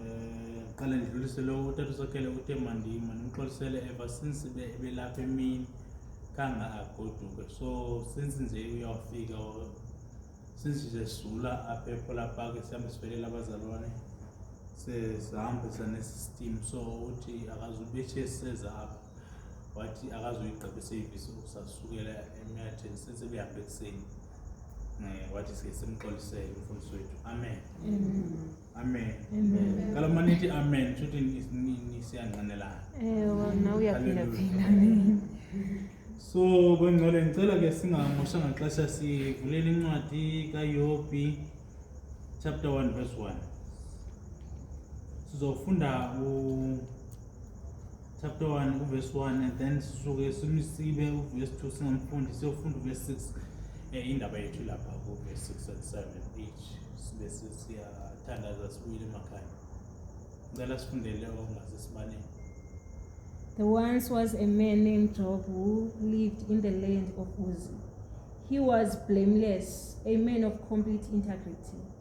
Eh, qala ndidlulise lo utata usakhele uthe mandima nimxolisele ever since belapha emini kanga agoduke so since nje uyawufika since nje sula apha ephola park sihambe sivelela abazalwane sihambisa nesystem so uthi akazubethi eseza apha wathi akazoyigqiba isevisi ukusasukela emyatheni since behambe ekuseni eh, wathi sike simxolisele umfundisi wethu amen amen kaloku uma nithi amen shuthi siyanqanelana so kwengcwele ngicela ke singamoshanga xesha sivulele incwadi kayobi chapter 1 verse 1 sizofunda u chapter 1 uvesi 1 and then sisuke simsibe uvesi 2 singamfundi siyofunda uvesi 6 eh, indaba yethu lapha kuvesi 6 and 7 each sibe siyathandaza sibuyile emakhaya ngicela sifundele ongaze sibanele There once was a man named Job who lived in the land of Uz. He was blameless, a man of complete integrity.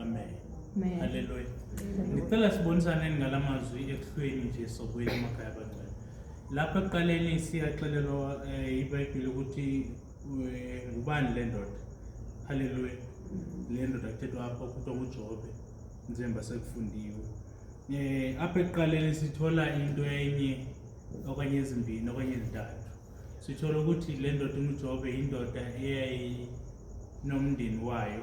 Amen. Amen. Hallelujah. Ngicela sibonisaneni ngalamazwi ekuhlweni nje sokuya emakhaya abangcwele. Lapha ekuqaleni siyaxelelwa eh, iBhayibheli ukuthi eh, ngubani le ndoda. Hallelujah. Le ndoda kuthethwa apha kuthiwa nguJobe. Nzemba sekufundiwe. Eh apha ekuqaleni sithola into enye okanye ezimbini okanye ezintathu. Sithola ukuthi le ndoda uJobe indoda eyayinomndeni wayo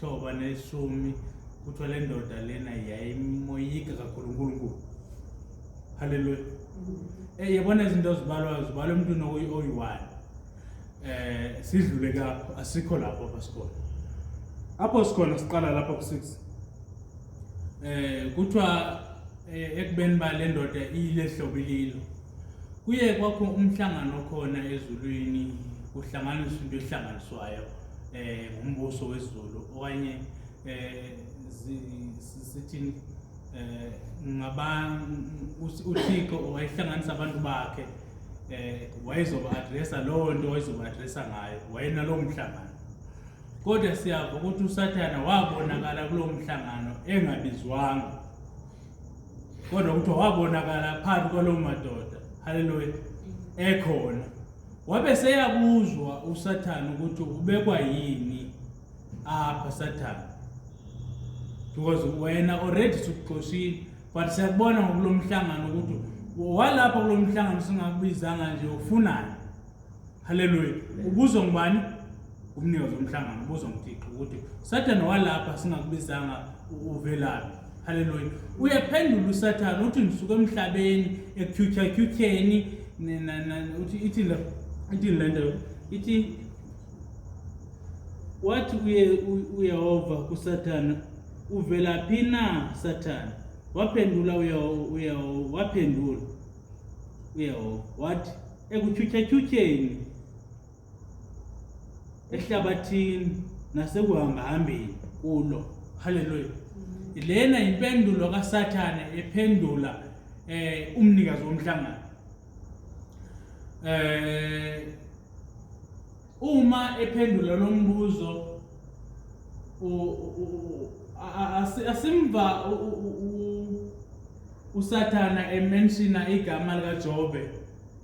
Thoba neshumi kuthiwa le ndoda lena yayimoyika kakhulu uNkulunkulu. Haleluya. Eh yabona izinto zibalwa zibalwa emntwini oyi-one. Eh sidlule kapho asikho lapho apha sikhona. Apho sikhona siqala lapha ku-6. Eh kuthiwa eh, ekubeni ba le ndoda iyilehlobo ililo. Kuye kwakho umhlangano khona ezulwini kuhlanganiswa into ehlanganiswayo. eh ngumbuso wezulu okanye eh sithini eh ngabantu uThixo wayehlanganisa abantu bakhe eh wayezoba addressa lowo nto wayezoba addressa ngayo wayena lowo mhlangano kodwa siyava ukuthi usathana wabonakala kulowo mhlangano engabizwanga kodwa kuthiwa wabonakala phakathi kwalowo madoda haleluya ekhona Wabe seyakuzwa uSathane ukuthi ubekwa yini apha Sathane. Because wena already sukuxoshile but siyakubona ngokulomhlangano ukuthi walapha kulomhlangano singakubizanga nje ufunani. Hallelujah. Ubuzwa ngubani? umnikazi womhlangano ubuza umthixo ukuthi usathane walapha singakubizanga uvelaphi haleluya uyaphendula usathane uthi ngisuke emhlabeni ekyutyhakyutyheni uthi ithi le ithi le nto ithi wathi uyehova kusathane uvelaphi na sathane waphendula uyehova waphendula uyehova wathi ekutyutyhatyutyheni ehlabathini nasekuhambahambeni kulo haleluya lena yimpendulo kasathane ephendula um umnikazi womhlangano um uma ephendula lo mbuzo asimva usathana emenshina igama likajobe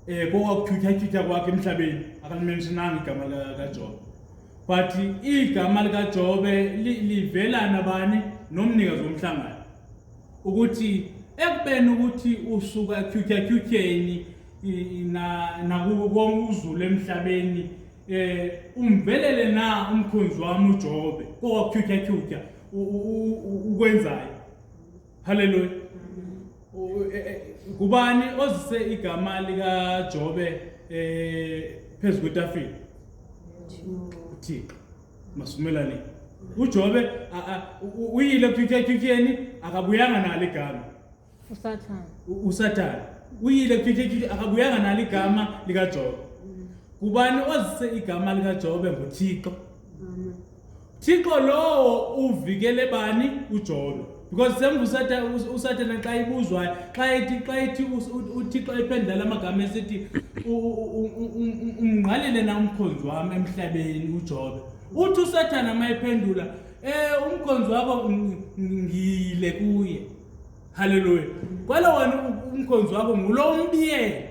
Eh konga kuthuthathutha kwakhe emhlabeni akalimentionanga igama likaJobe. But igama likaJobe livela nabani nomnikazi womhlangano. Ukuthi ekubeni ukuthi usuka ekhuthathutsheni na nakuko konke uzulu emhlabeni eh umvelele na umkhonzi wami uJobe kowakhuthathutha ukwenzayo Haleluya. E, e, kubani ozise igama lika Jobe eh phezulu kwetafile? uThixo. Masumelane. UJobe uyile kuthikethikeni akabuyanga nalo igama. USathane. USathane. Uyile kuthikethikeni akabuyanga nalo igama lika Jobe. Kubani ozise igama lika Jobe ngoThixo? Thixo lowo uvikele bani uJobe because semvusathi usathana xa ibuzwayo xa ethi xa ethi uthixo ephendula la magama esithi umngqalele na umkhonzi wami emhlabeni ujobe uthi usathana uma ephendula um umkhonzi wakho ngiyile kuye halleluya kwalo wena umkhonzi wakho ngulo umbiyele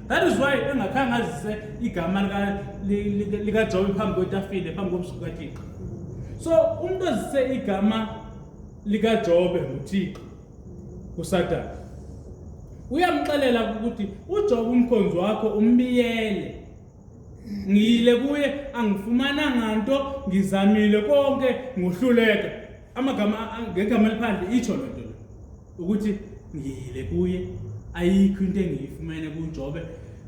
that is why engakhange azise igama likajobe phambi kwetafile phambi kobusuku kathixo so umuntu ozise igama likajobe nguthixo usathane uyamxelela ukuthi ujobe umkhonzi wakho umbiyele ngiyile kuye angifumananga nto ngizamile konke ngohluleka amagama ngegama eliphandle itsho loo nto ukuthi ngiyile kuye ayikho into engiyifumene kujobe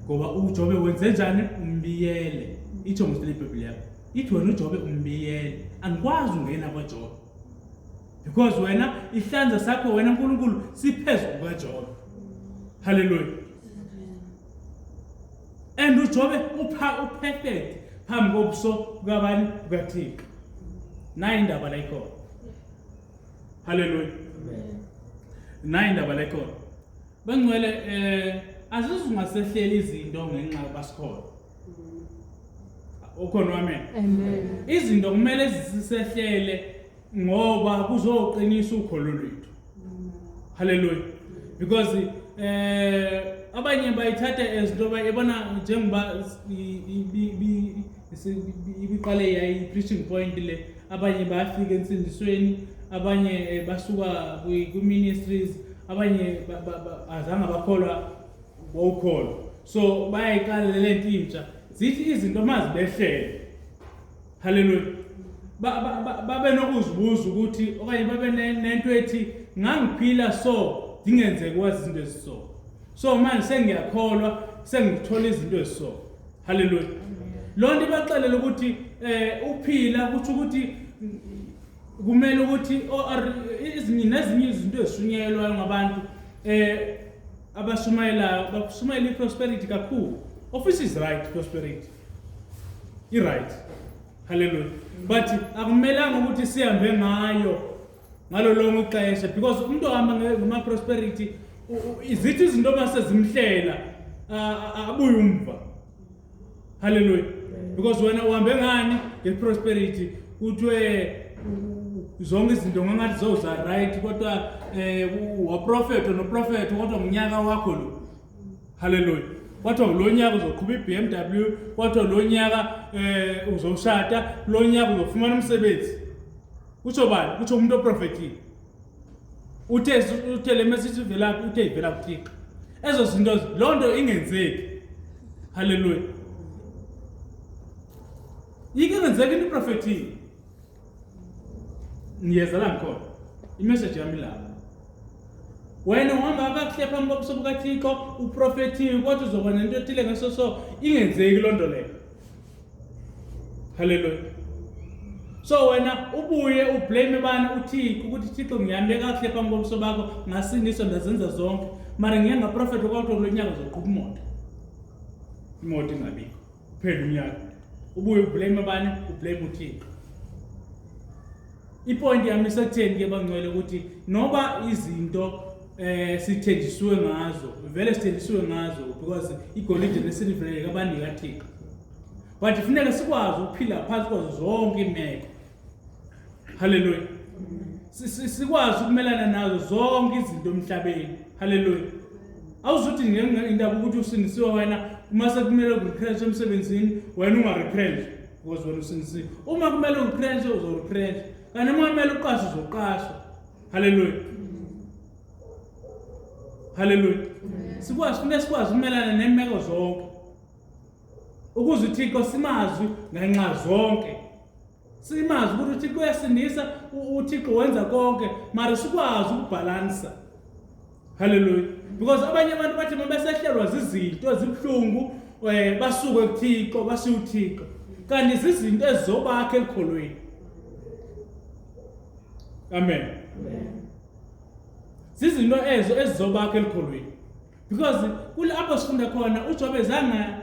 ngoba ujobe wenze njani umbiyele itsho ngosile ibhebhile yakho ithi wena ujobe umbiyele angikwazi ungena kwajobe because wena ihlanza sakho wena nkulunkulu siphezu kukajobe halleluya and ujobe upha uperfect phambi kobuso kukabani kukathixo nayo indaba layikhona Hallelujah. Amen. Nayi indaba lekhona. Bangcwele eh azizungasehleli izinto ngenxa basikhona. Ukhona wami. Amen. Izinto kumele zisisehlele ngoba kuzoqinisa ukholo lwethu. Hallelujah. Because eh abanye bayithatha ezinto bayibona njengoba ibiqale yayi-preaching point le abanye bayafika ensindisweni abanye eh, basuka kwi-ministries abanye azange bakholwa wawukholwa so bayayiqala le nto intsha zithi izinto uma zibehlele halleluya babe nokuzibuza ukuthi okanye babe nento ethi ngangiphila so ndingenzeki wazi izinto eziso so manje sengiyakholwa sengithola izinto eziso haleluya loo nto ibaxelela ukuthi um uphila kutsho ukuthi kumele ukuthi nezinye izinto ezishunyayelwayo ngabantu um abashumayelayo bashumayela i-prosperity kakhulu office is right prosperity i-right haleluya but akumelanga ukuthi sihambe ngayo ngalo lonke ixesha because umuntu ohamba ngama-prosperity zithi izinto uma sezimhlela abuye umva halleluya because wena uhambe ngani nge-prosperity kuthiwe zonke izinto ngangathi zoza right kodwa um waprofetho noprofetho kodwa ngunyaka wakho lo halleluya kwathiwa lo nyaka uzoqhuba i-b m w kwathiwa lo nyaka um uzoshada lo nyaka uzofumana umsebenzi Kusho bani? Kusho umuntu oprofethile. Uthe uthe le message ivela kuphi? Uthe ivela kuThixo. Ezo zinto lo nto ingenzeki. Haleluya. Yike ngenzeka into iprofethile. Ngiyeza la ngikhona. Imessage yami lapha. wena uhamba kakuhle phambi kobuso bukathixo uprofethiwe kodwa uzoba nento ethile ngeso so ingenzeki loo nto leyo haleluya so wena ubuye ublame bani uthixo ukuthi thixo ngihambe kakuhle phambi komso bakho ngasindiswa ndazenza zonke mara ngiye ngaprofetha kwakuthiwa kulo nyaka zoqhuba imoto imoto ingabikho kuphela unyaka ubuye ublame bani ublame uthixo Ipoint yami isekutheni ke bangcwele ukuthi noba izinto eh sithenjisiwe ngazo vele sithenjisiwe ngazo because igolide nesilver yakabanika thixo but kufuneka sikwazi ukuphila phansi kwazo zonke imeko haleluya sikwazi ukumelana nazo zonke izinto emhlabeni haleluya awuzuthi ngenxa indaba ukuthi usindisiwe wena uma sekumele urepress emsebenzini wena ungarepress Because wena usinisile. Uma kumele upressure uzopressure. Kanti uma kumele uqashe uzoqasha. Hallelujah. Hallelujah. Sikwazi kufanele sikwazi ukumelana nemeko zonke. Ukuze uThixo simazwi ngenxa zonke. Simazi ukuthi uThixo uyasindisa, uThixo wenza konke, mara sikwazi ukubhalansa. Hallelujah. Because abanye abantu bathi uma besehlelwa zizinto ezibuhlungu eh basuke kuThixo bashiya uThixo. Kanti izinto ezizobakhe elikholweni. Amen. Amen. Sizinto ezo ezizobakhe elikholweni. Because kulapho sifunda khona uJobe zanga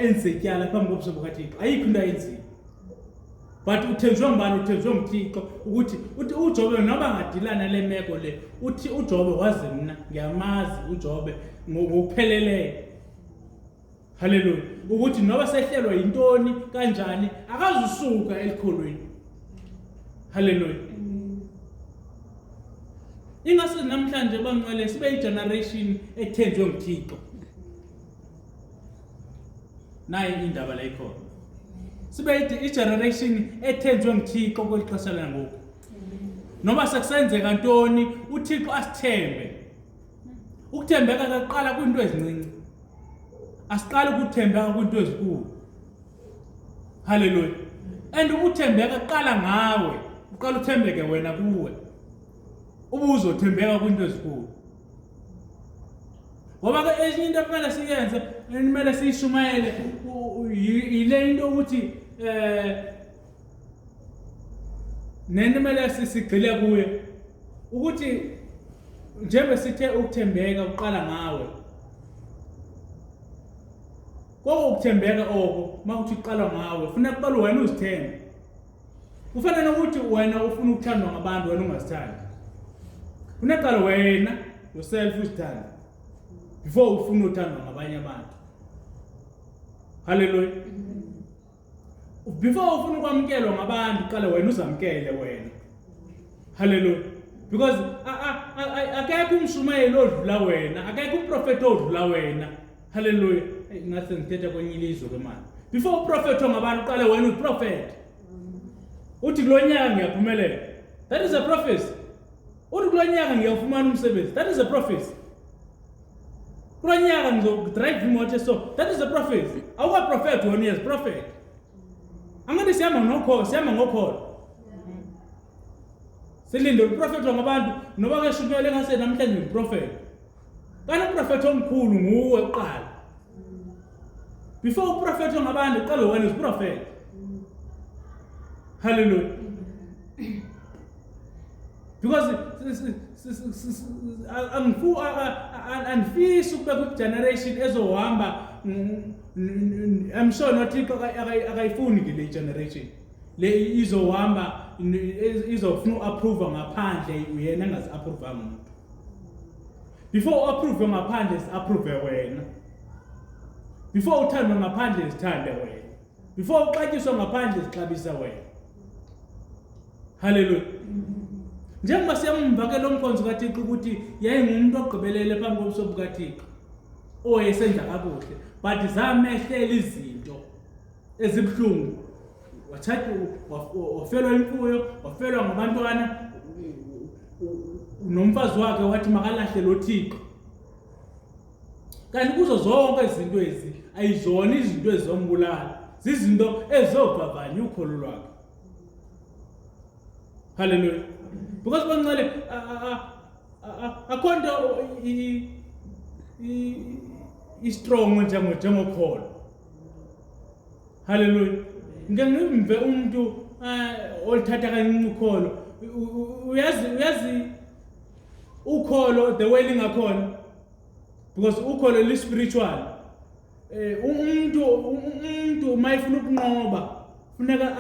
enze ityala phambi kobuso bukaThixo. Ayikho into ayenzile. but uthenjwe ngubani uthenjwe nguthixo ukuthi uthi ujobe noba ngadilana le meko le uthi ujobe wazi mna ngiyamazi ujobe ngokupheleleyo haleluya ukuthi noba sehlelwa yintoni kanjani akazusuka elikholweni haleluya ingase namhlanje banqwele sibe yigeneration ethenjwe nguthixo nayi indaba la ikhona sibe igeneration ethenjwe nguthixo kweli xesha langoku noma sekusenzeka ntoni uthixo asithembe ukuthembeka kaqala kwinto ezincinci asiqali ukuthembeka kwinto ezikulu haleluya and ukuthembeka kuqala ngawe uqala uthembeke wena kuwe ubuzothembeka kwinto ezikulu ngoba ke enye into kumele siyenze kumele siyishumayele yile into ukuthi eh nento kumele sigxile kuyo ukuthi njengoba sithe ukuthembeka uqala ngawe Koko ukuthembeka oko makuthi uqala ngawe funeka kuqala wena uzithembe Kufana nokuthi wena ufuna ukuthandwa ngabantu wena ungazithandi. Kunaqala wena yourself uzithanda before ufuna uthandwa ngabanye abantu. Hallelujah. Before ufuna ukwamkelwa ngabantu qala wena uzamkele wena. Hallelujah. Because akekho umshumayeli odlula wena, akekho umprofeti odlula wena. Hallelujah. Hey, ngathi ngithetha kwenye ilizwe ke manje. Before uprofet ongabani uqale wena uprofet. Uthi kulonyaka ngiyaphumelela. That is a prophecy. Uthi kulonyaka ngiyafumana umsebenzi. That is a prophecy. Kulonyaka ngizodrive imoto so. That is a prophecy. Awuka prophet wena yes prophet. Angathi siyama ngokho, siyama ngokholo. Silinde uprofet wangabantu noba kashukele ngase namhlanje uprofet. Qala uprofethi omkhulu nguwe kuqala. Before uprofethi ongabani qala wena uziprofethi. Hallelujah. Because angifu anifisi ukube ku generation ezohamba I'm sure noThixo akayifuni ke le generation. Le izohamba izofuna uapprove ngaphandle uyena engazi approve umuntu. before approve ngaphandle approve wena before uthande ngaphandle sithande wena before uxatyiswa ngaphandle sixabisa wena haleluya njengoba siyamumva ke lo mkhonzi kathixo ukuthi yayingumuntu ogqibelele phambi kobuso bukathixo owayesenza kakuhle but zamehlela izinto ezibuhlungu wathatha wafelwa imfuyo wafelwa ngabantwana nomfazi wakhe wathi makalahle lo thixo kanti kuzo zonke izinto ezi ayizona izinto ezizombulala zizinto ezizovavanya ukholo lwakhe halleluya because bancele akho nto i-strong njengokholo haleluya ngike ngimve umuntu eh, olithatha kancinci ukholo uyazi uyazi ukholo the way lingakhona because ukholo li-spiritual eh, um umuntu um, umuntu uma efuna ukunqoba funeka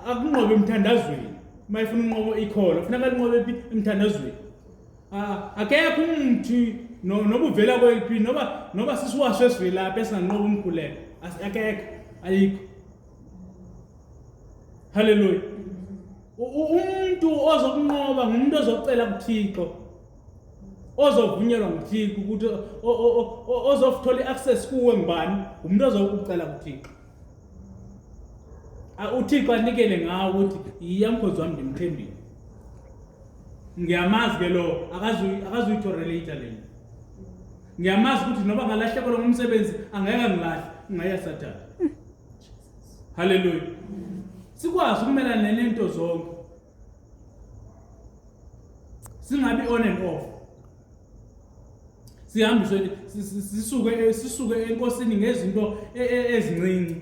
akunqobe emthandazweni uma efuna unqobo ikholo funeka linqobe phi emthandazweni Ah, akekho umuthi no- noba uvela kweliphi noba noba sisiwasho esivelaphi esinganqoba umkhuleko As- akekho ayikho haleluya U- u- umuntu ozokunqoba ngumuntu ozocela kuthixo ozovunyelwa nguthixo ukuthi o- o- o- o- ozofuthola i-access kuwe ngubani ngumuntu ozokucela kuthixo A- uthixo anikele ngawo ukuthi yiya mkhozi wami ndimthembile ngiyamazi ke lo akazuyitolerator lena ngiyamazi ukuthi noba ngalahlekelwa ngumsebenzi angeke angilahle ungaya sathane haleluya sikwazi ukumelana nenento zonke singabi on and off sihambiswe sisuke sisuke enkosini ngezinto e, e, ezincinci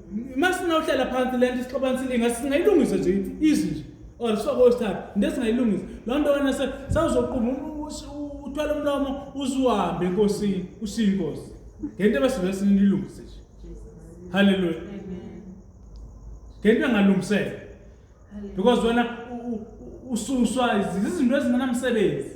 uma sinawuhlala phansi le nto isixabana silinga singayilungisa nje izi nje or sifake osithathu into esingayilungisa loo nto wena sawuzoquma uthwala umlomo uziwambe enkosini ushiye inkosi ngento ebesibe sinilungise nje halleluya ngento engalungiseka because wena ususwa izinto ezingenamsebenzi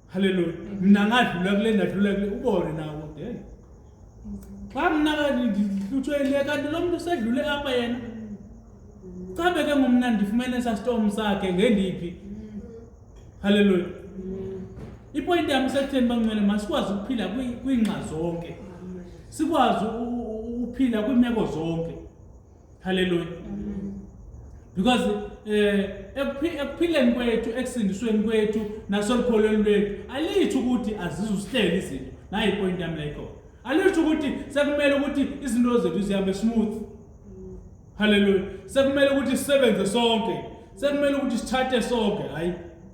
Hallelujah. Mina ngadlula kule ndadlula kule ubone nawo then. Xa mina ngihlutshwe ile kanti lo muntu usedlule apha yena. Cha beke ngumna ndifumene esa storm sakhe ngendiphi. Hallelujah. Ipoint yami sekutheni bangcwele masikwazi ukuphila kwingxa zonke. Sikwazi ukuphila kwimeko zonke. haleluya because eh ekuphileni kwethu ekusindisweni kwethu nasolukholweni lwethu alithi ukuthi azizusihleli izinto nayi point yami layikho alithi ukuthi sekumele ukuthi izinto zethu zihambe smooth haleluya sekumele ukuthi sisebenze sonke sekumele ukuthi sithathe sonke hayi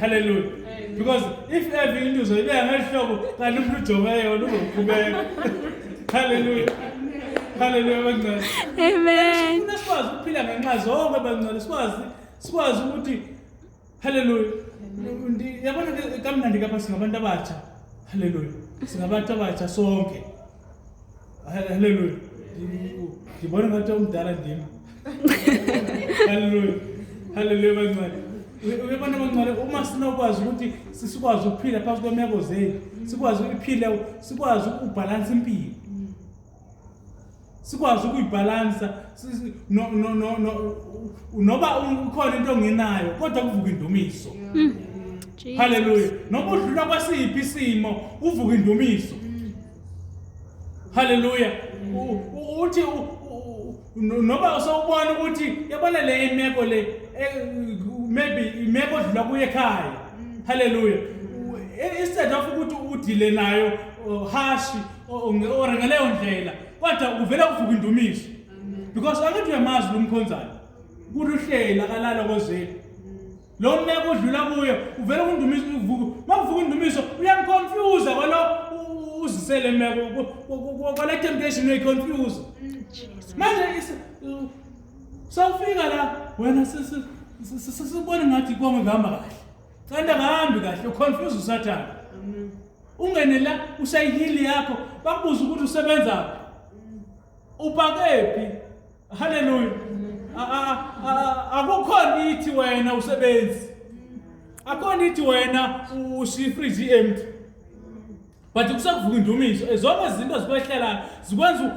haleluya because if ever into uzoyibeka ngelihlobo kanti umuntu ujobe yona uzokhubeka haleluya haleluya bancane amen funa sikwazi ukuphila ngenxa zonke bancane sikwazi sikwazi ukuthi haleluya yabona kamnandi kapha singabantu abatsha haleluya singabantu abatsha sonke Hallelujah. Ngibona ngathi umdala ndim. Hallelujah. Hallelujah bancane. Uyabona bancane uma sinokwazi ukuthi sikwazi ukuphila phakathi kwemeko zethu, sikwazi ukuphila, sikwazi ukubhalansa impilo. Sikwazi ukuyibhalansa no no no no noba ukhona into ongenayo kodwa kuvuka indumiso. Mm. Hallelujah. Noba udlula kwasiphi isimo uvuka indumiso. haleluya uthi noma usawubona ukuthi yabona le imeko le eh, maybe imeko odlula kuye ekhaya haleluya instead of ukuthi udile nayo hashi or ngaleyo ndlela kodwa kuvele kuvuka indumiso because angithi uyamazi lo mkhonzana kuthi uhleli akalala kozeli lo meko odlula kuye uvele kundumiso uma kuvuka undumiso uyangiconfuse kwalo uzisele meko kwala temptation uyayiconfuse manje sawufika la wena sesibone ngathi konke kuhamba kahle kanti akahambi kahle uconfuse usathane ungene la usayihili yakho bakubuza ukuthi usebenzaphi upakephi Haleluya. Akukhona ithi wena usebenzi. Akhona ithi wena ushifriji empty. But kusakuvuka indumiso. Ezonke izinto zikwehlelayo zikwenza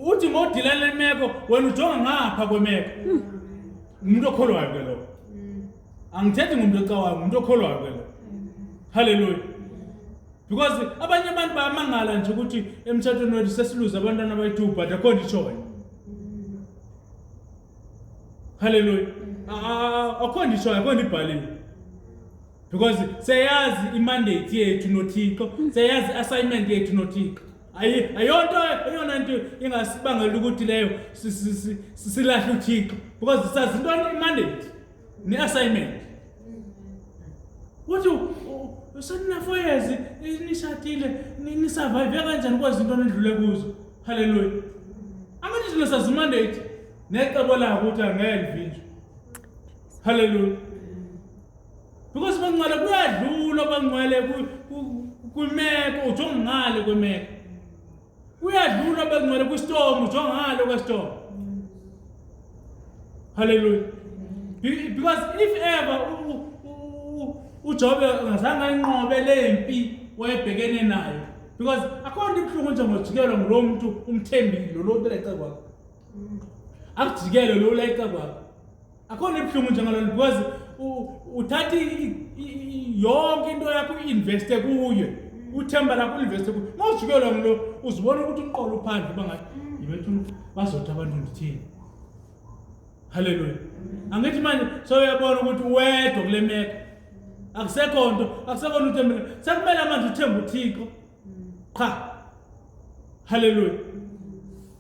uthi ngodila lemeko wena ujonga ngapha kwemeko. Umuntu okholwayo ke lo. Angithethi ngumuntu ocawayo, umuntu okholwayo ke lo. Haleluya. because abanye abantu bayamangala nje ukuthi emtshatweni wethu sesiluze abantwana abayi-two but akho nto ishoyo halleluya akho nto ishoyo akho nto ibhaliwe because seyazi imandate yethu nothixo seyazi i-assignment yethu nothixo ayonto eyona nto ingasibangela ukuthi leyo silahle uthixo because sazi intoni imandate ne assignment uthi usenina four years nishadile nisurvive kanjani kwazi into nidlule kuzo haleluya angithi thina sazi mandate necebo lako ukuthi angeke livinjwe haleluya because bangcwele kuyadlula bangcwele kwimeko uthi ongale kwemeko Uyadlula bekungcwele kwistorm njengalo kwestorm. Hallelujah. Because if ever uJobe ngazange ayinqobe le mpi wayebhekene nayo because akhona ibuhlungu nje ngojikelwa ngulo muntu umthembile lo lo ulayice kwakho. Akujikele lo ulayice kwakho. akhona ebuhlungu njengalona because uthatha yonke into yakho uinveste kuye uthemba lakho uinveste kuye uma ujikelwa ngilo uzibona ukuthi uqola uphandle uba ngathi yibethu bazothi abantu ndithini halleluya angithi manje soyabona ukuthi wedwa kule meko akusekho nto akusekho nto uthembele sekumele manje uthembe uthixo qha halleluya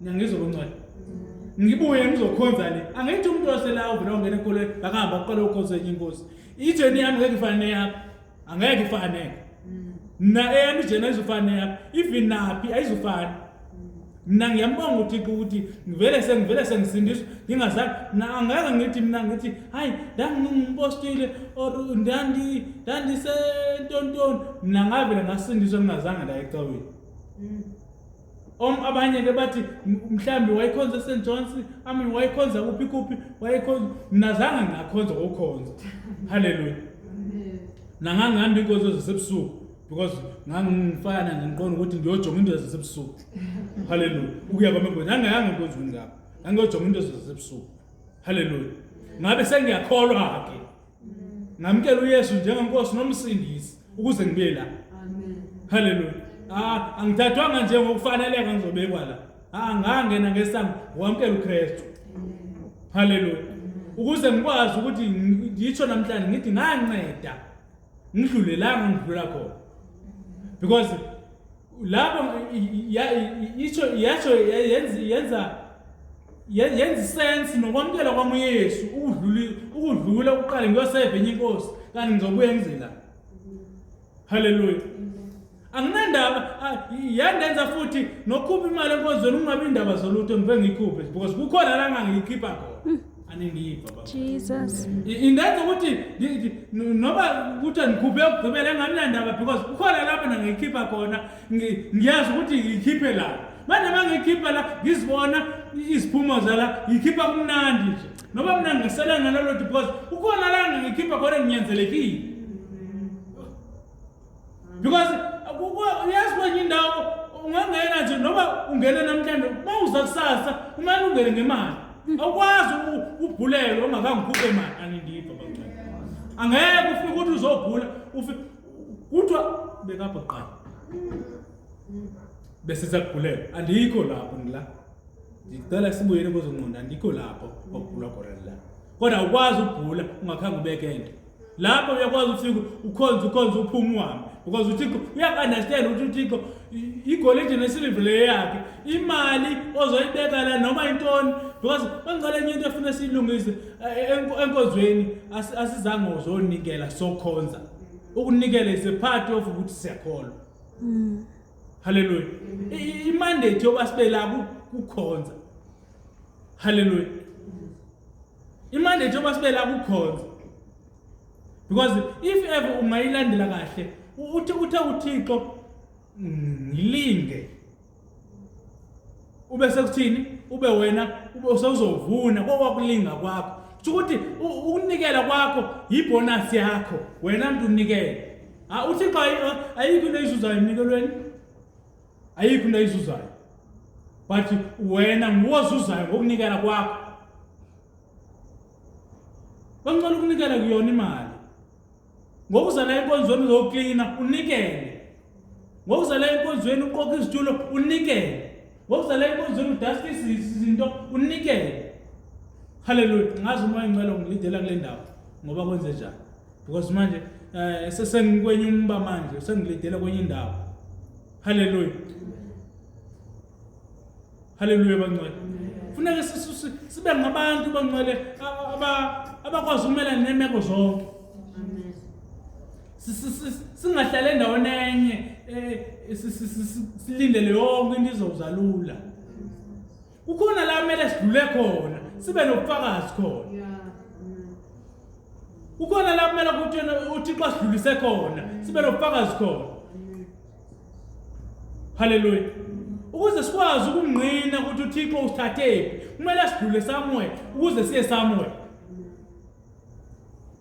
mina ngizokungcwela ngibuye ngizokhonza le angithi umuntu osela uvela ungena enkolweni akahamba aqale ukhonza enye inkosi ijeni yami ngeke ifane neyakho angeke ifane mna eyami ijeni ayizufane neyakho even naphi ayizufane mna ngiyambonga uthixo ukuthi ngivele sengivele sengisindiswa ngingazange mna angeke ngithi mna ngithi hayi ndangingumpostile or ndandi ndandisentontoni mna ngavele ngasindiswa ngingazange ndayecaweni mm. Om abanye ke bathi mhlambi wayekhonza eSt John's, ami wayekhonza kuphi kuphi, wayekhonza mina zange ngakhonza ukukhonza. Hallelujah. Nangangihamba inkonzo zasebusuku because ngangifana ngiqonda ukuthi ngiyojonga into zasebusuku. Hallelujah. Ukuya kwami inkonzo ngangayanga enkonzweni ngapha. Ngangiyojonga into zasebusuku. Hallelujah. Ngabe sengiyakholwa ke. ngamkela uYesu njengenkosi nomsindisi ukuze ngibe la amen haleluya ah angithathwanga nje ngokufaneleka ngizobekwa la ah ngangena ngesango wamkela uKristu haleluya ukuze ngikwazi ukuthi ngitsho namhlanje ngithi nganceda ngidlulelanga ngidlula khona because lapho isho yasho yenza yenza yenza sense nokwamukela kwami uYesu ukudlula ukudlula ukuqala ngiyoseva enye inkosi kanti ngizobuya ngizela haleluya anginandaba yandenza futhi nokhupha imali enkonzweni kungabi indaba zolutho ngibe ngiyikhuphe because kukhona la ngangiyikhipha khona hmm. Jesus. Indenza ukuthi noma ukuthi angikhuphe ukugqibela engaminandaba because kukhona lapho nangikhipha khona ngiyazi ukuthi ngikhiphe la. Manje uma ngikhipha la ngizibona iziphumo zala ngikhipha kumnandi nje. Noma mina ngisela ngalolo because ukhona la ngikhipha khona nginyanzelekile. because uyazi kwenye indawo ungangena nje noma ungene namhlanje uma uza kusasa kumele ungene ngemali awukwazi ubhulelwe ungakangikhuphe imali anindipha bancane angeke ufike ukuthi uzobhula ufike kuthiwa bekabhoqana bese sakubhulela andikho lapho ngila ngicela sibuyele kwezonqondo andikho lapho okugula khona la kodwa awukwazi ukugula ungakhange ubeke into lapho uyakwazi uthixo ukhonze ukhonze uphume uhambe because uthixo uyaku-understand ukuthi uthixo igolide nesiliva leyo yakhe imali ozoyibeka la noma intoni because bangicela enye into efuna siyilungise eh, enkonzweni asizange uzonikela sokhonza ukunikela is a part of ukuthi siyakholwa mm. halleluya imandate yoba sibe la kukhonza Hallelujah. Imanje njengoba sibe la kukhonza. Because if ever ungayilandela kahle, uthi uthe uThixo ngilinge. Ube sekuthini? Ube wena ube usozovuna kokwakulinga kwakho. Kusho ukuthi ukunikela kwakho yibonus yakho. Wena mntu unikele. Ah uThixo ayikho into eyizuzayo emnikelweni. ayikho into ayizuzayo but wena nguwozuzayo ngokunikela kwakho bancela ukunikela kuyona imali ngokuza la enkonzweni uzoklina unikele ngokuza la enkonzweni uqoqa izitulo unikele ngokuza la enkonzweni udaska izinto unikele haleluya ngazi uma ingcwele ngilidela kule ndawo ngoba kwenze njani because manje eh sesengikwenye umba manje sengilidela kwenye indawo haleluya haleluya bangcwele funeka sibe ngabantu bangcwele abakwazi ukumelana nemeko zonke singahlale endaweni enye eh, silindele yonke into izozalula kukhona la kumele sidlule khona sibe nobufakazi khona kukhona la kumele ukuthi uthixo asidlulise khona sibe nobufakazi khona haleluya ukuze sikwazi ukungqina ukuthi uthixo usithathephi kumele sidlule somewhere ukuze siye somewhere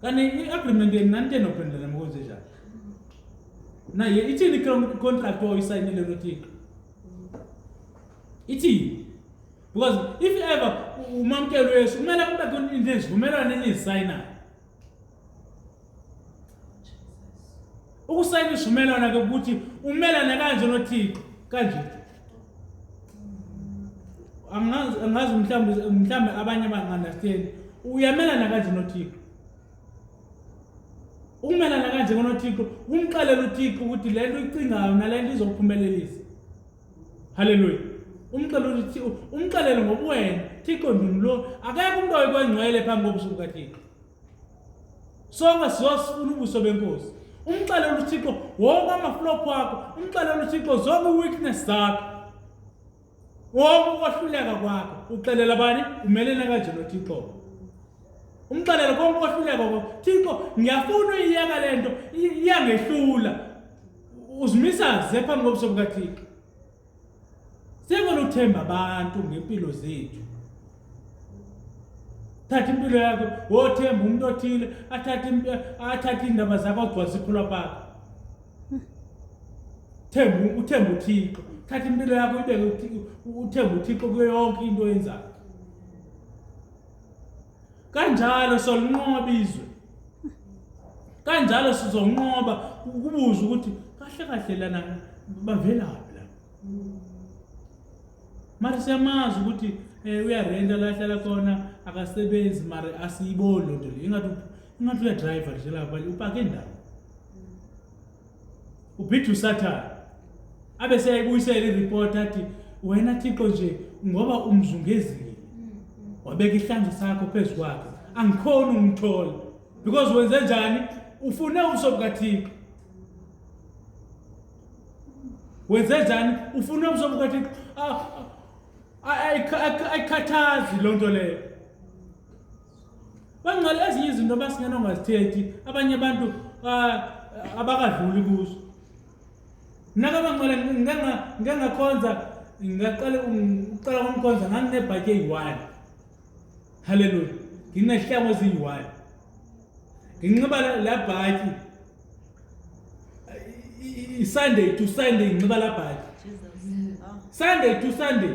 Kanti i-agreement yenu nanitsheni ophendulana mkonzi njani? Naye ithini i-contract oyisayinile noThixo? Ithini? Because if ever umamkelo wesu kumele kube khona into ezivumelwano enizisayinayo. Ukusayina isivumelwano ke ukuthi umelane kanje noThixo kanje. Angazi angazi mhlawumbe mhlawumbe abanye bangandastand. Uyamelana kanje noThixo. Ukumelana kanje ngonoThixo, umqalela uThixo ukuthi le nto icingayo nale nto izokuphumelelisa. Hallelujah. Umqalela ukuthi umqalele ngobuwena, Thixo ndini lo, akekho umuntu oyikwangcwele phambi kobusuku kaThixo. sonke siyosifuna ubuso benkosi umxelele uthixo wonke amaflop wakho umxelele uthixo zonke i-weakness zakho wonke ukwahluleka kwakho uxelela bani umelene kanje nothixo umxelele konke ukwahluleka kwakho thixo ngiyafuna uyiyeka le nto iyangehlula uzimisa ze phambi kobuso bukathixo Singonothemba abantu ngempilo zethu. Thatha impilo yakho, wothemba umuntu othile, athathe athathe indaba zakho agcwalise iphula pakho. Themba uthemba uThixo. Thatha impilo yakho ibeke uthemba uThixo kuyo yonke into oyenzayo. kanjalo solinqoba izwe kanjalo sizonqoba ukubuza ukuthi kahle kahle lana bavelaphi la mara siyamazi ukuthi eh, uyarenta la hlala khona akasebenzi mara asiyiboni loo nto leyo ingathi ingathi uyadriver nje lapha upake ndawo uphitha usathane abe seyayibuyisela iripoti athi wena thixo nje ngoba umzungezile wabeka ihlanzo sakho phezu kwakhe angikhoni ukumthola because wenze njani ufune ubuso bukathixo wenze njani ufune ubuso bukathixo ah, ah, ayikhathazi loo nto leyo bangcwele ezinye izinto abasingena ongazithethi abanye abantu ah, abakadluli kuzo naka bangcwele ngike ngakhonza ngaqala uqala umkhonza nganginebhaki eyi-one halleluya nginehlango eziyi-one nginxiba la bhaki i-sunday to sunday nginxiba la bhaki sunday to sunday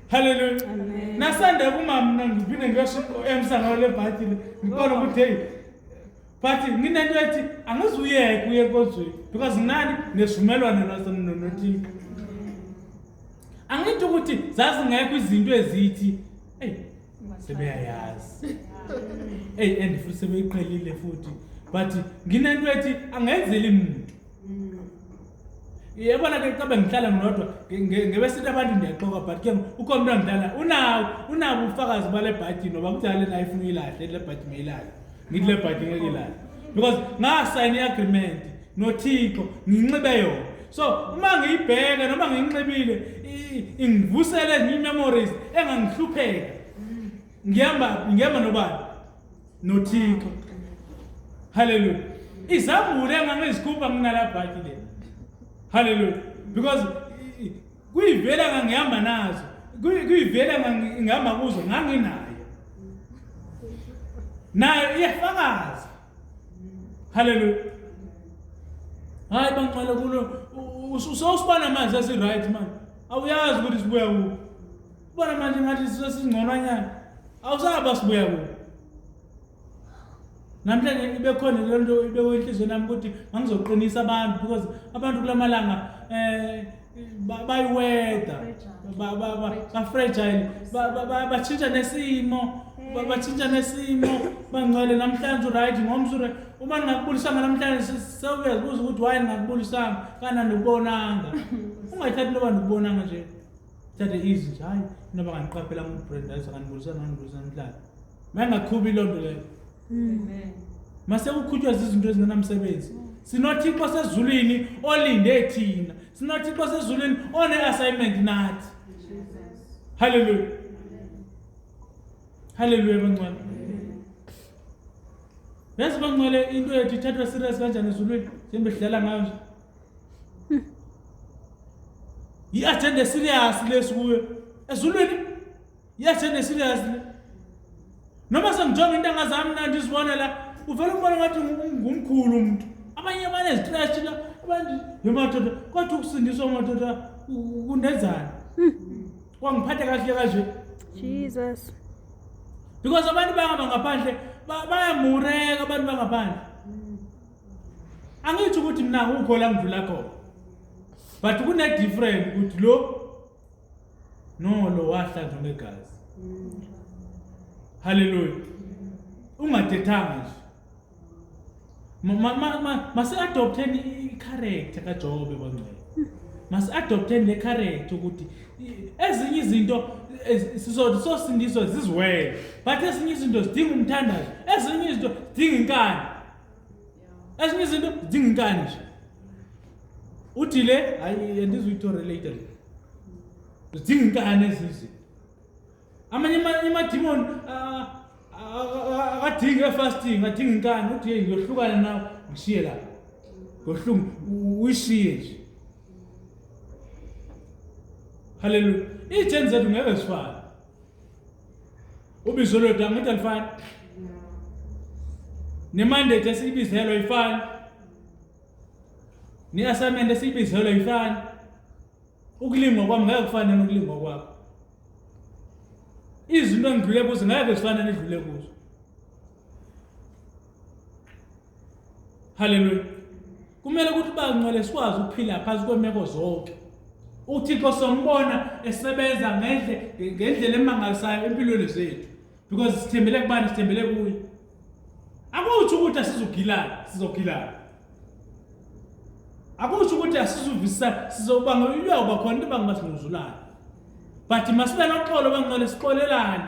Hallelujah. Amen. Nasanda kuma mina ngiphinde ngiyosho emsangano lebhayibheli ngibona ukuthi hey but nginento ethi angizuyeke kuye enkonzweni because nginani nesivumelwano nothixo angithi ukuthi zazingekho izinto ezithi eyi sebeyayazi eyi and futhi sebeyiqhelile futhi but nginento ethi angenzeli muntu yebona ke cabe ngihlala ngilodwa ngebesithi abantu ndiyaxoka but ke ukhona umntu angidlala unawo unabo ubufakazi bale bhaji noba kudala le naye funa uyilahle le bhaji meyilahle ngithi le bhaji ngeke ilahle because ngasayina i-agreement nothixo nginxibe yona so uma ngiyibheke noma ngiyinxibile ingivusele ngiyi-memories engangihlupheka ngihamba ngihamba nobani nothixo haleluya izambulo engangizikhupha nginalabhaki le haleluya because kuyivela ngangihamba nazo kuyivela ngihamba kuzo nganginayo nayo iyafakaza haleluya hayi banqala kulo usosibana amanzi asiright manje awuyazi ukuthi sibuya kuphi Ubona manje ngathi isizwe singconwanyana. Awusaba sibuya kubo. Namhlanje ibe khona le nto ibe wenhlizweni yami ukuthi ngangizoqinisa abantu because abantu kulamalanga eh bayiweda bafragile batshintsha nesimo batshintsha nesimo bangcwele namhlanje uright ngomso uright uma ningakubulisanga namhlanje sewuyazibuza ukuthi waye ningakubulisanga kana ndikubonanga ungathathi loba ndikubonanga nje thathe izwi nje hayi noma ngandiqaphela umuntu brand hayi sanganibulisa nganibulisa namhlanje mayengakhubi loo nto leyo mase kukhutshwa zizinto ezingenamsebenzi sinothixo sezulwini olinde thina sinothixo sezulwini one-assignment nathi halleluya halleluya bangcwele yazi bangcwele into yethu ithathwa serious kanjani ezulwini njengoba sidlala ngayo nje yi-agenda esiriyasi lesi kuyo ezulwini yi-agenda esiriyasi le noma sengijonga intanga zami na ndizibona la uvele umbona ngathi ngumkhulu umntu abanye abane zitrashi la abantu yemadoda kwathi ukusindiswa madoda kundenzani hmm. kwangiphatha kahle kanje jesus because abantu bangaba ngaphandle bayamureka abantu bangaphandle angithi ukuthi mina ngukho la ngidlula khona but kune-different ukuthi lo no lo wahlanzwa ngegazi halleluya ungathethanga nje masi-adoptheni i-character kajobe bangcwele masi-adoptheni le character ukuthi ezinye izinto sizothi sosindiswa ziziwele but ezinye izinto zidinga umthandazo ezinye izinto zidinga inkani ezinye izinto zidinga inkani nje uthi le hayi andizuyithore later zidinga inkani ezinye izinto amanye amadimoni akadingi efasting adinga inkani uthi yeyi ngiyohlukana nawe ngishiye lapho ngohlungu uyishiye nje haleluya iy'theni zethu ngeke zifane Ubizo lwethu angithi alifani. Nemandate esiyibizelwa ifani. Ne-assignment esiyibizelwa ifani. Ukulingwa kwami ngeke kufane nokulingwa kwakho. Izinto engidlule kuzo ngeke zifane nedlule kuzo. Haleluya. Kumele ukuthi bangcwele sikwazi ukuphila phansi kwemeko zonke. UThixo sombona esebenza ngendle ngendlela emangalisayo empilweni zethu because sithembele kubani sithembele kuye. Akusho ukuthi asizogilana, sizogilana. Akusho ukuthi asizuvisa sizobanga uyuyakuba khona into bangibasinguzulana. But masibe noxolo bangcwele sixolelane.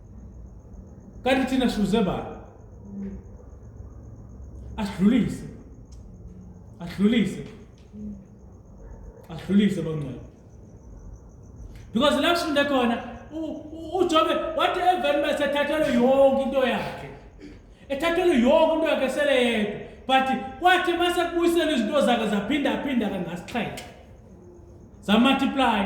kanti thina sizuze bani asidlulise asidlulise asidlulise bangcwele because la sifunde khona uJobe wathi eveni bese thathelwe yonke into yakhe ethathelwe yonke into yakhe sele yedwa but kwathi mase kubuyisela izinto zakhe zaphinda phinda kangasixhenxe za multiply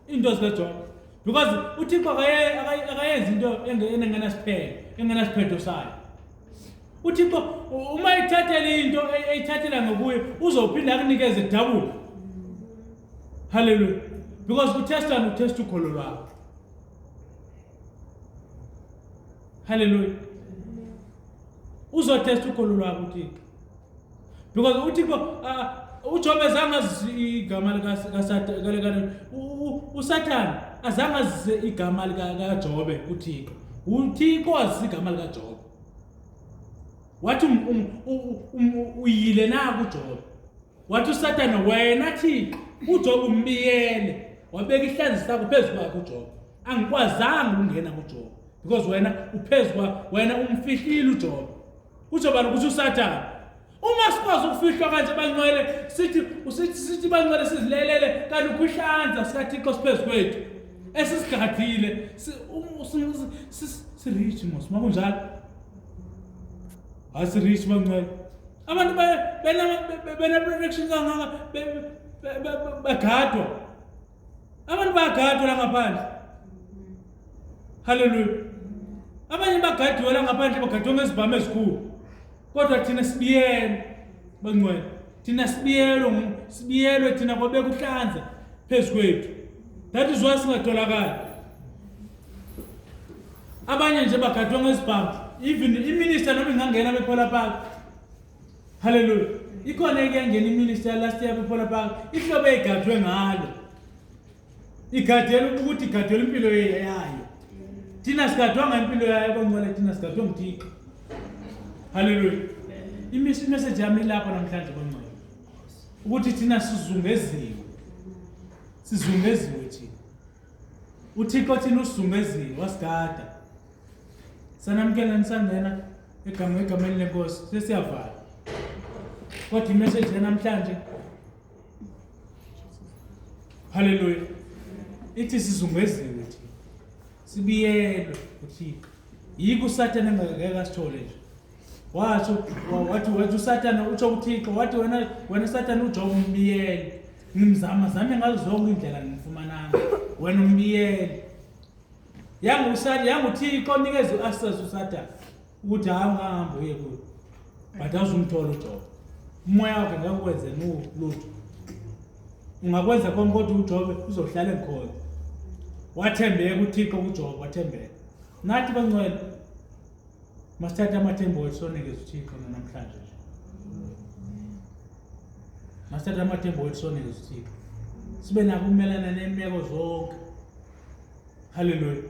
into zikaJobe because uthixo akayenzi into engenasiphelo engenasiphetho sayo uthixo uma ithathele into eyithathela ngokuye uzophinde akunikeze dabula halleluya because uthestani uthesta ukholo lwakho halleluya uzothesta ukholo lwakho uthixo because uthi kubo uh, uJobe azange azise igama likaSathane uSathane azange azise igama likaJobe kuThixo uThixo azise igama likaJobe wathi um, um, um, uyile na kuJobe wathi uSathane wena Thixo uJobe umbiyele wabeka ihlanzi sakho phezu kwakhe uJobe angikwazanga ukungena kuJobe because wena uphezu kwakho wena umfihlile uJobe kuzobala ukuthi usathane uma sikwazi ukufihlwa kanje bangcwele sithi usithi sithi bangcwele sizilelele kanti ukhwihlanza sikathixo siphezu kwethu esisigadile sirich um, mos uma kunjalo hayi sirich bangcwele abantu beneprotection kangaka bagadwa Abantu bayagadwa la ngaphandle. Hallelujah. Abanye bagadiwe la ngaphandle bagadwe ngezibhamu ezikhulu. Kodwa thina sibiyene bangcwele. Thina sibiyelwe sibiyelwe thina kwabeka uhlanza phezu kwethu. That is why singatholakali. Abanye nje bagadwe ngezibhamu. Even iminister noma ingangena bephela phakathi. haleluya ikhona ekuyangena iminister last year before park ihlobo eyigadwe ngalo igadela ukuthi igadela impilo yayo thina sigadwanga impilo yayo boncola thina sigadwe nguthixo haleluya imeseji yami ilapho namhlanje boncola ukuthi thina sizungeziwe sizungeziwe thina uthixo thina usizungezile wasigada sanamukela nisangena Egameni egameni lenkosi sesiyavala. What the message namhlanje? Hallelujah. Ithi sizungeziwe ukuthi sibiyelwe uThixo. Yiko uSathane engeke asithole nje. Wathi wathi wathi uSathane utsho uThixo wathi wena wena uSathane uJobe umbiyele. Ngimzama zame ngazo zonke indlela ngimfumananga. Wena umbiyele. yangusani yanguthixo nikeza u-access usathane ukuthi hayi ungahambi uye kuyo but awuzumthola ujoba umoya wakhe ngeke ukwenze lutho ungakwenza konke kodwa ujobe uzohlala engikhona wathembeka uthixo kujoba wathembeka nathi bangcwele masithathe amathemba wethu sonekeza uthixo nanamhlanje nje masithathe amathemba wethu sonekeza uthixo sibe nako ukumelana nemeko zonke haleluya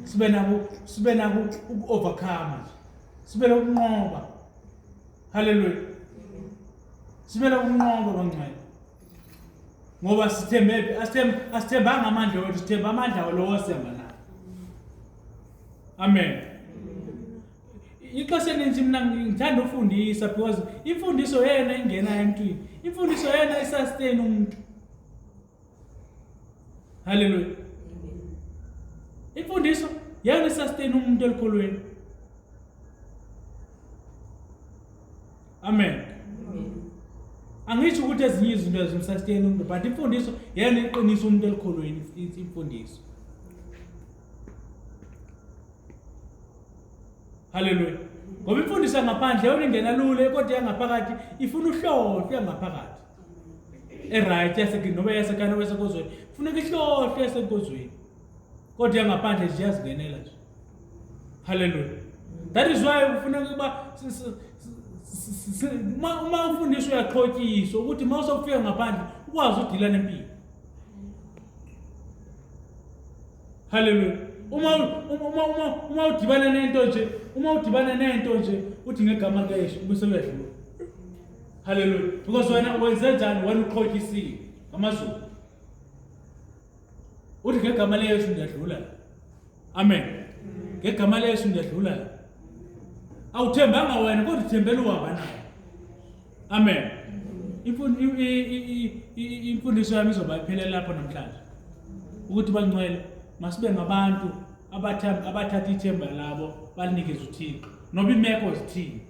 sibe nabo sibe nabo uku-overcome sibe nokunqoba haleluya sibe nokunqoba bangcwele ngoba sithembephi asithembanga amandla wethu sithemba amandla lowo asihamba nawo amen ixesha eninzi mna ngithanda ufundisa because imfundiso yena ingena emntwini imfundiso yena isastain umuntu Haleluya. Imfundiso yena sustain umuntu elikholweni. Amen. Angisho ukuthi ezinye izinto ezimsustain umuntu but imfundiso yena iqinisa umuntu elikholweni imfundiso. Haleluya. Ngoba imfundiso yangaphandle yona ingena lule kodwa yangaphakathi ifuna uhlobo yangaphakathi. eright noma yasekhaya noma yasenkozweni funeka ihlohle yasenkozweni kodwa yangaphandle nje iyazingenela nje halleluya that is why kufuneka ukuba uma ufundiswa uyaqhotyiswa ukuthi uma usokufika ngaphandle ukwazi udila nempilo halleluya uma uma uma uma udibana nento nje uma udibana nento nje uthi ngegama kesho bese uyadlula Hallelujah. Because wena wenze njani wena uqhotyisile ngamazulu. Uthi ngegama leyesu ndiyadlula. Amen. Ngegama leyesu ndiyadlula. Awuthembanga wena kodwa uthembela uhamba naye. Amen. Imfundiso yami izoba iphelele lapho namhlanje. Ukuthi bangcwele masibe ngabantu abathatha ithemba labo balinikeza uThixo. Noba imeko zithini.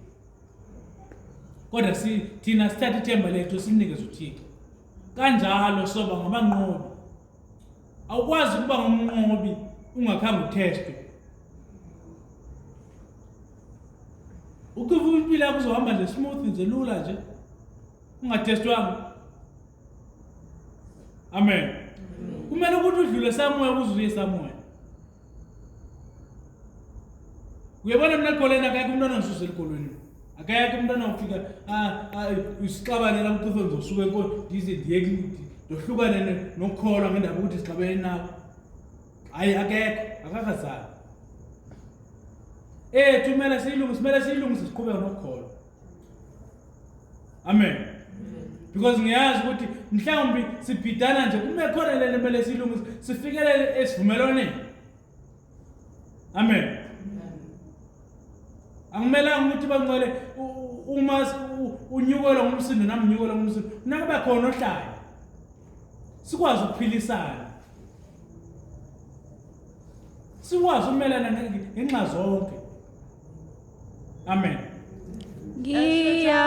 kodwa si thina sithatha ithemba lethu sinikeze uThixo kanjalo soba ngabanqobi awukwazi ukuba ngumnqobi ungakhange uthestwe ukuva impilo yakho uzohamba nje smooth nje lula nje ungathestwanga amen kumele ukuthi udlule samoya kuzuye samoya uyabona mina goleni akekho umntwana ngisuze elikolweni akekho umntwana ufika usixabanela mqifo ngizosuka enkolo ndize ndiye ndohlukane nokukholwa ngendaba ukuthi sixabene nawo hhayi akekho akakazali ethu kumele siyilungise kumele siyilungise siqhubeka nokukholwa amen because ngiyazi ukuthi mhlawumbi sibhidana nje kume khona lento kumele silungise sifikelele esivumelwaneni amen akumelanga ukuthi bancele uma unyukelwa ngumsindo nami nginyukelwa ngumsindo nakube khona ohlayo sikwazi ukuphilisana sikwazi ukumelana ngenxa zonke Amen. Ngiya